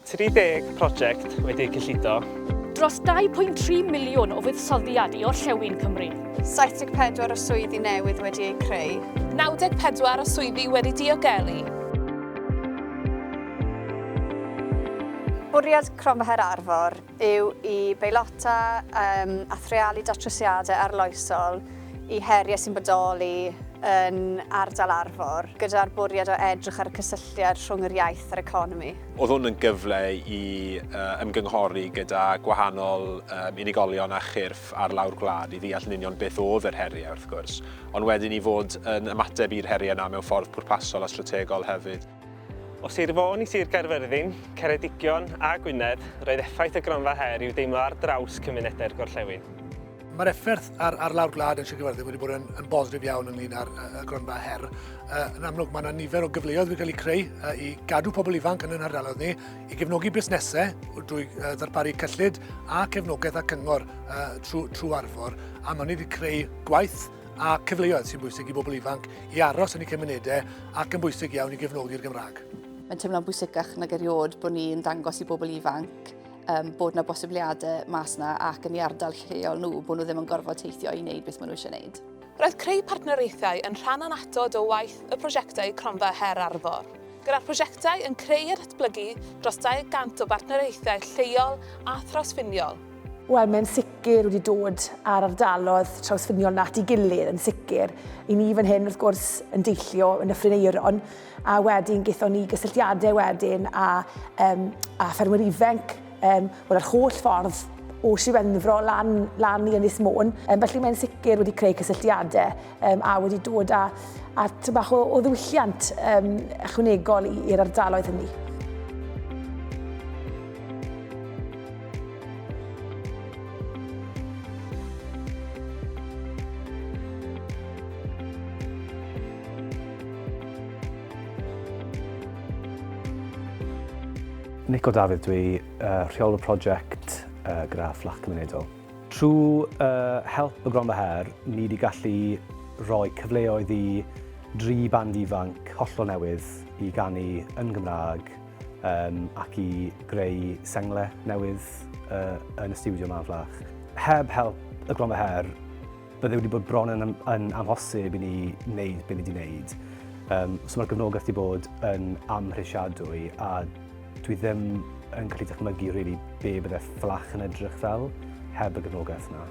30 prosiect wedi'u cyllido. Dros 2.3 miliwn o fuddsoddiad i orllewin Cymru. 74 o swyddi newydd wedi eu creu. 94 o swyddi wedi diogelu. Bwriad Cromfaher Arfor yw i beilota a threialu datrysiadau arloesol i heriau sy'n bodoli yn ardal Arfor, gyda'r bwriad o edrych ar y cysylltiad rhwng yr iaith a'r economi. Oedd hwn yn gyfle i ymgynghori gyda gwahanol unigolion a chyrff ar lawr gwlad i ddeall yn union beth oedd yr heriau, wrth gwrs, ond wedyn i fod yn ymateb i'r heriau yna mewn ffordd pwrpasol a strategol hefyd. O Sir Fôn i Sir Gaerfyrddin, Ceredigion a Gwynedd, roedd effaith y gronfa her i'w deimlo ar draws cymunedau'r gorllewin. Mae'r effaith ar, ar lawr gwlad yn Sir Gaerfyrddin wedi bod yn, yn bositif iawn ynglyn â'r uh, gronfa her. Uh, yn amlwg, mae yna nifer o gyfleoedd wedi cael eu creu uh, i gadw pobl ifanc yn ein hardaloedd ni, i gefnogi busnesau drwy uh, ddarparu cyllid a cefnogaeth a cyngor uh, trwy, trwy arfor, a mae wedi creu gwaith a cyfleoedd sy'n bwysig i bobl ifanc i aros yn eu cymunedau ac yn bwysig iawn i gefnogi'r Gymraeg. Mae'n teimlo'n bwysicach nag erioed bod ni'n dangos i bobl ifanc um, bod yna bosibiliadau mas yna ac yn ei ardal lleol nhw, bod nhw ddim yn gorfod teithio i wneud beth maen nhw eisiau wneud. Roedd creu partneriaethau yn rhan anatod o waith y prosiectau Cronfa Her Arfor, gyda'r prosiectau yn creu a datblygu dros 200 o bartneriaethau lleol a thrawsffiniol, Wel, mae'n sicr wedi dod ar ardalodd trawsffiniol nat i gilydd yn sicr. I ni fan hyn, wrth gwrs, yn deillio yn y Ffrineiron, a wedyn gaethon ni gysylltiadau wedyn a, um, a ffermwyr ifanc, um, wel, yr holl ffordd o Siwenfro lan, lan i Ynys Môn. Um, felly mae'n sicr wedi creu cysylltiadau. um, a wedi dod â, â bach o, o ddiwylliant um, ychwanegol i'r ardaloedd hynny. Nico Dafydd, dwi uh, rheolwr prosiect uh, gyda Fflach Cymunedol. Trwy help y Gronfa Her, ni 'di gallu rhoi cyfleoedd i dri band ifanc hollol newydd i ganu yn Gymraeg ac i greu sengle newydd yn y stiwdio 'ma yn Fflach. Heb help y Gronfa Her, bydde wedi bod bron yn amhosib i ni wneud be ni 'di wneud. So mae'r gefnogaeth 'di bod yn amhrisiadwy a Dwi ddim yn gallu dychmygu rili be bydde fflach yn edrych fel heb y gefnogaeth 'na.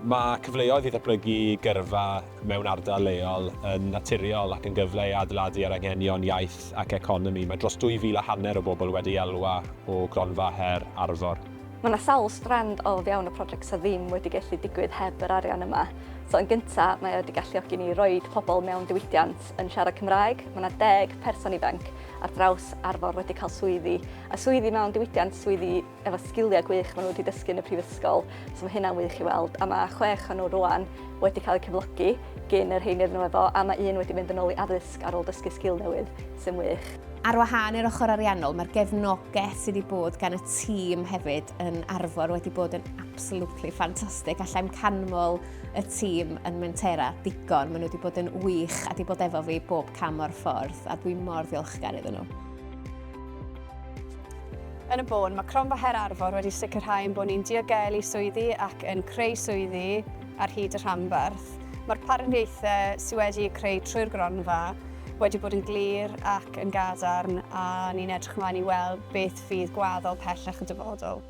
Mae cyfleoedd i ddatblygu gyrfa mewn ardal leol yn naturiol ac yn gyfle i adeiladu ar anghenion iaith ac economi. Mae dros dwy fil a hanner o bobl wedi elwa o gronfa her Arfor. Mae 'na sawl strand o fewn y project sydd ddim wedi gallu digwydd heb yr arian yma. So yn gynta, mae o wedi galluogi ni i roid pobl mewn diwydiant yn siarad Cymraeg. Mae 'na deg person ifanc ar draws Arfor wedi cael swyddi, a swyddi mewn diwydiant, swyddi efo sgiliau gwych maen nhw wedi dysgu yn y prifysgol, so mae hynna'n wych i weld. A mae chwech o'n nhw rwan wedi cael eu cyflogi gyn yr rheiny rydyn nhw efo, a mae un wedi mynd yn ôl i addysg ar ôl dysgu sgil newydd, sy'n wych. Ar wahân i'r ochr ariannol, mae'r gefnogaeth sydd wedi bod gan y tîm hefyd yn Arfor wedi bod yn absolutely ffantastig. Allai'm canmol y tîm yn Mentera digon. Maen nhw wedi bod yn wych a wedi bod efo fi bob cam o'r ffordd a dwi mor ddiolchgar iddyn nhw. Yn y bôn, mae Cronfa Her Arfor wedi sicrhau ein bod ni'n diogelu swyddi ac yn creu swyddi ar hyd y rhanbarth. Mae'r partneriaethau sydd wedi creu trwy'r gronfa wedi bod yn glir ac yn gadarn a ni'n edrych ymlaen i weld beth fydd gwaddol pellach y dyfodol.